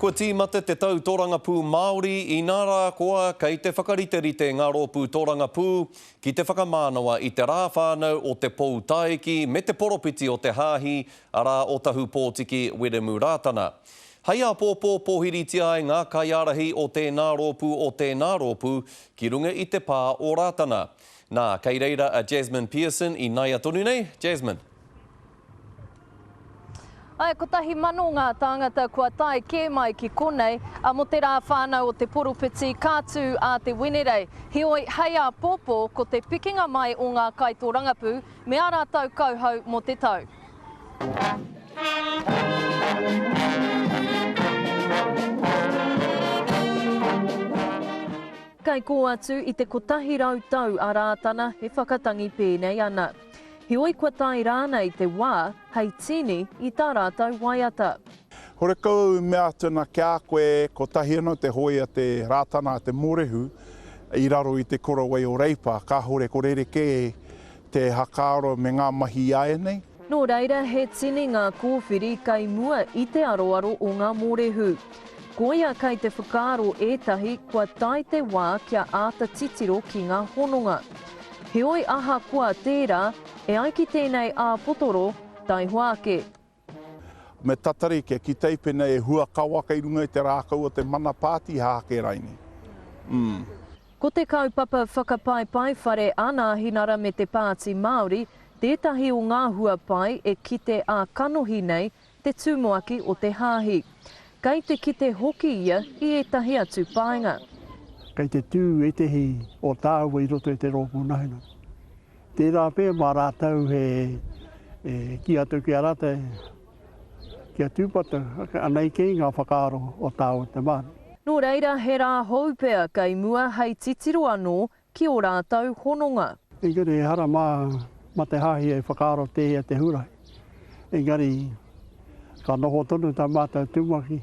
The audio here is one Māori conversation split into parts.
Kua tīmata te tau torangapū Māori, inā rā koa kei te whakariterite ngā rōpū torangapū ki te whakamānawa i te rā whānau o te Pou Taiki me te poropiti o te Hāhi, arā, o Tahupōtiki Wiremu Rātana. Hei āpōpō pōhiritia ai ngā kaiārahi o tēnā rōpū o tēnā rōpū ki runga i te pā o Rātana. Nā, kei reira a Jasmine Pearson ināia tonu nei, Jasmine. Ae, kotahi mano ngā tāngata kua tae kē mai ki konei, a mo te rā whānau o te poropiti ka tū a Te Wenerei. Heoi, hei āpōpō, ko te pikinga mai o ngā kaitōrangapū me ā rātou kauhau mo te tau. Kei kō atu i te kotahi rau tau a Rātana e whakatangi pēnei ana. Heoi kua tae rānei te wā hei tīni i tā rātou waiata. Horekau au i mea atu ana ki a koe, kotahi anō te hōia te Rātana a te Mōrehu i raro i te Korawai o Reipa, kāhore ko rerekē te hakaaro me ngā mahi āianei. Nō reira, he tini ngā kōwhiri kei mua i te aroaro o ngā mōrehu. Koia kei te whakaaro ētahi kua tae te wā kia āta titiro ki ngā hononga. Heoi ahakoa tērā, e ai ki tēnei āpotoro, taihoa ake. Me tatari kia kitei pēnei e hua kawa kei runga i te rākau o te mana pātiha ake rainei. Umm. Ko te kaupapa whakapaepae whare a Nāhinara me te Pāti Māori tētahi o ngā hua pai e kite ā-kanohi nei te tumuaki o te hāhi. Kei te kite hoki ia i ētahi atu paenga. Kei te tū ētahi o tāua i roto i te rōpū nahinga. Tērā pea mā rātou he kī atu ki a rātou kia tūpato anei kei ngā whakaaro o tāua te Māori. Nō reira, he rā hou pea kei mua hei titiro anō ki ō rātou hononga. Engari ehara mā, mā te Hāhi e whakaaro tēhea te Hūrae. Engari, ka noho tonu tā mātou tumuaki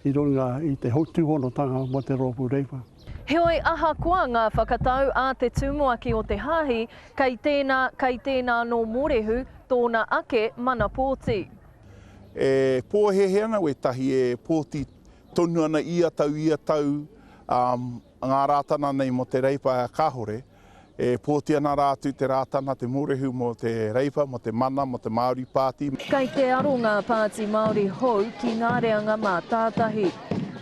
i runga i te tūhonotanga mō te Rōpū Reipa. Heoi, ahakoa ngā whakatau a te tumuaki o te Hāhi, kei tēnā, kei tēnā anō mōrehu tōna ake mana pōti. E pōhēhē ana wētahi e pōti tonu ana ia tau, ia tau, ā, Ngā Rātana nei mō te Reipa Kāhore, e pōti ana rā atu te Rātana, te Mōrehu mō te Reipa, mō te Mana, mō te Māori Pāti. Kei te aro ngā pāti Māori hou ki ngā reanga mātātahi.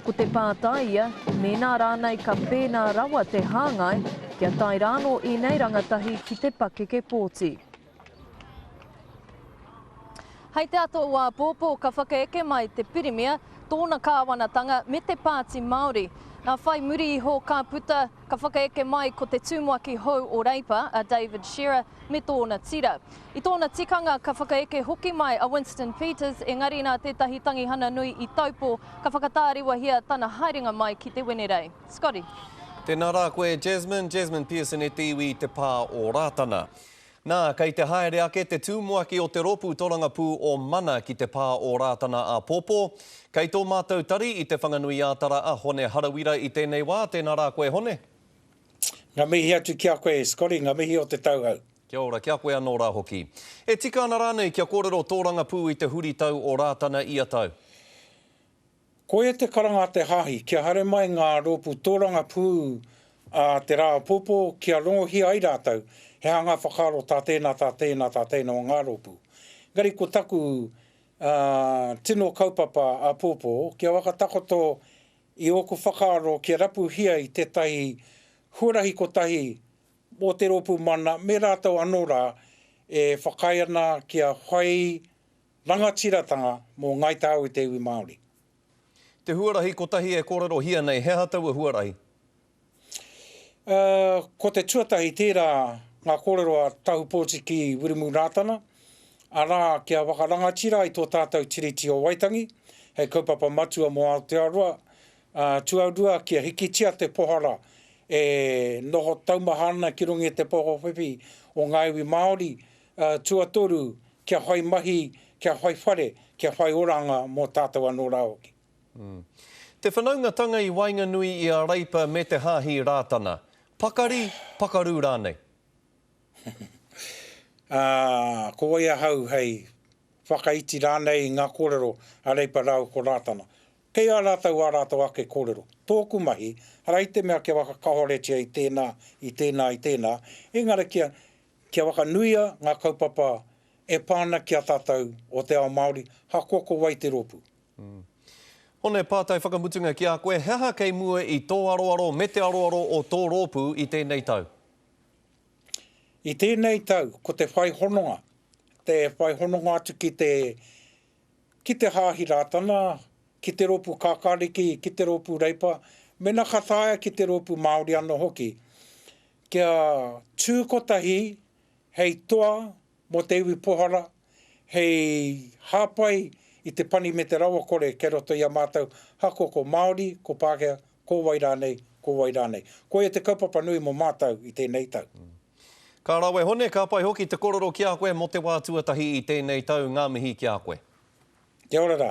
Ko te pātai ia, mēnā rānei ka pēnā rawa te hāngai, kia tae rānō ēnei rangatahi ki te pakeke pōti. Hei te ato o āpōpō ka whakaeke mai te Pirimia, tōna kāwanatanga me te Pāti Māori. Nā whai muri iho ka puta, ka whakaeke mai ko te tumuaki hou o Reipa a David Shearer me tōna tira. I tōna tikanga ka whakaeke hoki mai a Winston Peters engari nā tētahi tangihana nui i taupō ka whakatāriwahia tana haerenga mai ki te Wenerei. Scotty. Tēnā rā koe Jasmine, Jasmine Pearson e te iwi i te pā o Rātana. Nā, kei te haere ake te tūmuaki o te Rōpū Torangapū o Mana ki te pā o Rātana āpōpō. Kei tō mātou tari i Te Whanganui-ā-Tara a Hone Harawira i tēnei wā, tēnā rā koe Hone. Nga mihi atu ki a koe e Scotty, nga mihi o te tauhou. Kia ora, ki a koe anō rā hoki. E tika ana rānei kia kōrero tōrangapū i te huritau o Rātana ia tau? Koia te karanga a te Hāhi, kia haere mai ngā rōpū tōrangapū a te Rā Apopo kia rongohia ai rātou he aha ngā whakaaro tā tēnā, tā tēnā, tā tēnā o ngā rōpū. Engari ko taku tino kaupapa apōpō, kia whakatakoto i ōku whakaaro kia rapuhia i tētahi huarahi kotahi o te rōpū mana me rātou anō rā e whakaae ana kia whai Rangatiratanga mō Ngai Tāu i te iwi Māori. Te huarahi kotahi e kōrerohia nei, he aha taua huarahi? Ko te tuatahi tērā ngā kōrero a Tahupōti ki Wiremu Rātana, arā, kia whakarangatira i tō tātou Tiriti o Waitangi hei kaupapa matua mō Aotearoa, ā, tuarua kia hikitia te pohara e noho taumaha ana ki runga i te poho whiwhi o ngā iwi Māori, Tuatoru, kia whai mahi, kia whai whare, kia whai oranga mō tātou anō rā hoki. Te whanaungatanga i waenganui i a Reipa me te Hāhi Rātana. Pakari, pakaru rānei? Ko wai ahau hei whakaiti rānei i ngā kōrero a Reipa rāua ko Rātana? Kei a rātou ā rātou ake kōrero. Tōku mahi, arā i te mea kia whakakahoretia i tēnā, i tēnā, i tēnā, engari kia Kia whakanuia ngā kaupapa e pā ana ki a tātou o te ao Māori, ahakoa ko wai te rōpū. Hone, pātai whakamutunga ki a koe, he aha kei mua i tō aroaro me te aroaro o tō rōpū i tēnei tau? I tēnei tau, ko te whai hononga, te whai hononga atu ki te ki te Hāhi Rātana, ki te rōpū Kākāriki, ki te rōpū Reipa, mēnā ka taea ki te rōpū Māori anō hoki, kia tū kotahi hei toa mō te iwi pohara, hei hāpai i te pani me te rawakore kei roto i a mātou hakoko Māori, ko Pākehā, Ko wai rānei, ko wai rānei. Koia te kaupapa nui mō mātau i tēnei tau. Ka rawe Hone, ka pai hoki te kororo ki a koe mō te wā tuatahi i tēnei tau, ngā mihi ki a koe. Kia ora rā.